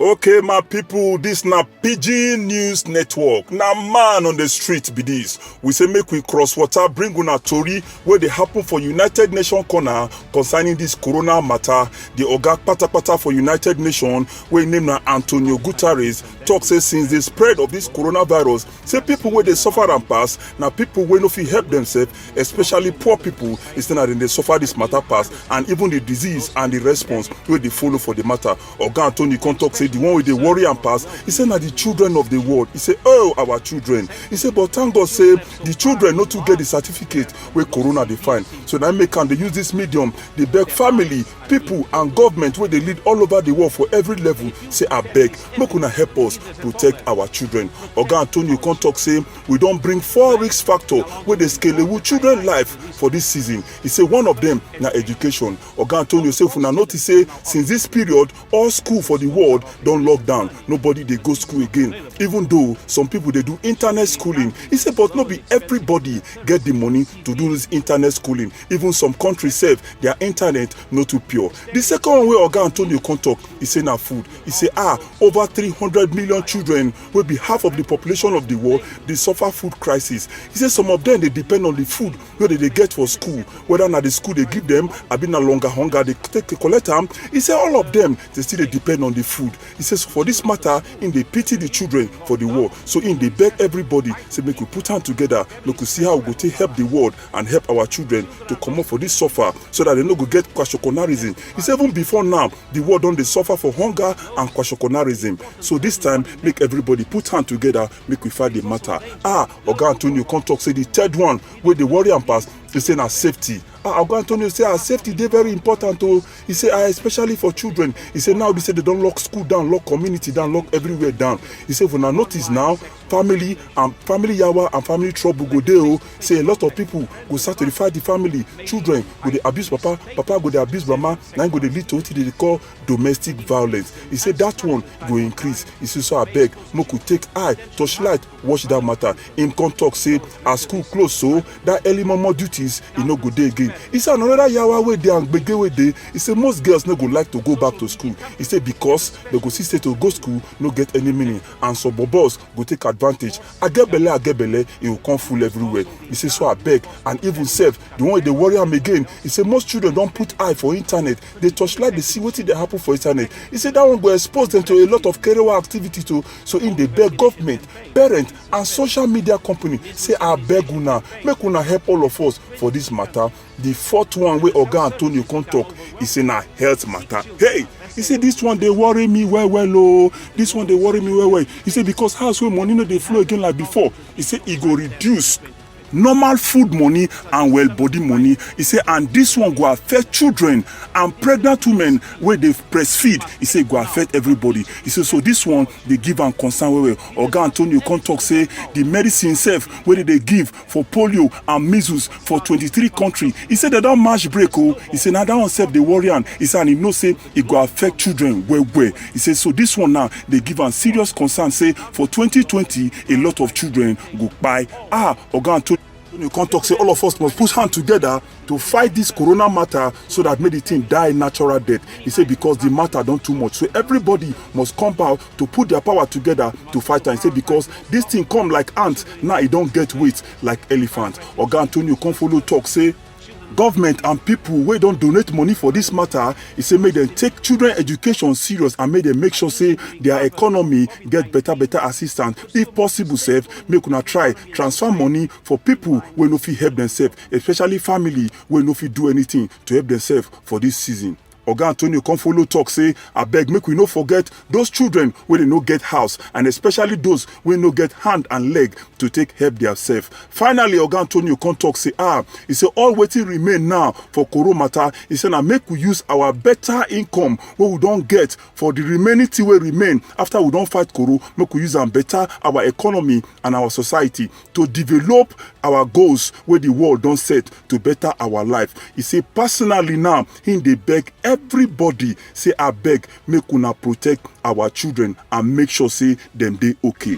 Okay, my people, this na PG News Network. Na man on the street be this. We say make we cross water, bring una tori wey dey happen for United Nations corner concerning this corona matter. The oga patapata for United Nations wey name na Antonio Guterres tok say since di spread of dis coronavirus say pipo wey dey suffer am pass na pipo wey no fit help demsef especially poor pipo instead na dem dey suffer dis matter pass and even di disease and di response wey dey follow for di matter oga antony come tok say di one wey dey worry am pass e say na di children of di world e say oh our children e say but thank god say di children no too get di certificate wey corona dey find so na make am dey use dis medium dey beg family pipo and government wey dey lead all over di world for every level say abeg make una help us protect our children oga antonio come tok say we don bring four risk factor wey dey scalewu children life for dis season e say one of dem na education oga antonio say if una notice say since dis period all school for di world don lock down nobody dey go school again even though some pipo dey do internet schooling e say but no be everybody get di money to do dis internet schooling even some countries sef their internet no too pure the second one wey oga antonio come talk e say na food e say ah over three hundred million children wey be half of the population of the world dey suffer food crisis e say some of them dey depend on the food wey dem dey get for school whether na the school dey give them abi na longer hunger dey take dey collect am e say all of them dey still dey depend on the food e say so for this matter im dey pity the children for the world so im dey beg everybody say make we put hand together make we see how we go take help the world and help our children to comot for dis suffer so dat dem no go get kwashokonarism e say even before now di world don dey suffer for hunger and kwashokonarism so dis time make everybody put hand together make we fight di matter ah oga antonio come talk say di third one wey dey worry am pass e say na safety ah oga antonio say our safety dey very important o e say ah especially for children e say now be say dem don lock school down lock community down lock everywhere down e say if una notice now family and family yawa and family trouble go dey o say a lot of people go start to dey fight the family children go dey abuse papa papa go dey abuse mama na im go dey lead to wetin dey dey call domestic violence e say that one go increase e say so abeg make we take eye torchlight watch that matter im come talk say as school close so that early momo duties e no go dey again e say another yawa wey dey and gbege wey dey e say most girls no go like to go back to school e say because dem go see say to go school no get any meaning and some bobos go take advantage i get belle i get belle e go come full everywhere e say so abeg and even sef the one wey dey worry am again e say most children don put eye for internet dey torchlight dey see wetin dey happen for internet e say that one go expose dem to a lot of kerewa activities o so im dey beg government parents and social media company say abeg una make una help all of us for dis matter Di fourth one wey Oga Antonio come tok, e say na health mata. Hey! E say dis one dey worry me well well o, dis one dey worry me well well. E say because house wey money no dey flow again like before, e say e go reduce normal food money and well body money. E say and dis one go affect children and pregnant women wey dey breastfeed. E say e go affect everybody. E say so dis one dey give am concern well well. Oga Antonio come tok say di medicine sef wey dem dey give, for polio and measles for twenty three kontri e say dem don match break o e say na dat one sef dey worry am e say and e know say e go affect children well well e say so dis one now dey give am serious concern say for twenty twenty a lot of children go kpai ah oga antonio antonio come tok say all of us must put hand togeda to fight dis corona matter so dat make di tin die natural death e say because di matter don too much so everybody must come out to put their power together to fight am say because this thing come like ant now e don get weight like elephant oga antonio come follow talk say government and people wey don donate money for this matter e say make dem take children education serious and make dem make sure say their economy get better better assistance if possible sef make una try transfer money for people wey no fit help themselves especially family wey no fit do anything to help themselves for this season Oga Antonio come follow talk say abeg make we no forget those children wey dey no get house and especially those wey no get hand and leg to take help theirself. Finally Oga Antonio come talk say ah he say all wetin remain now for Koro matter he say na make we use our better income wey we don get for the remaining thing wey remain after we don fight Koro make we use am better our economy and our society to develop our goals wey the world don set to better our life. He say personally now Him dey beg everybody say abeg make una protect our children and make sure say dem dey okay.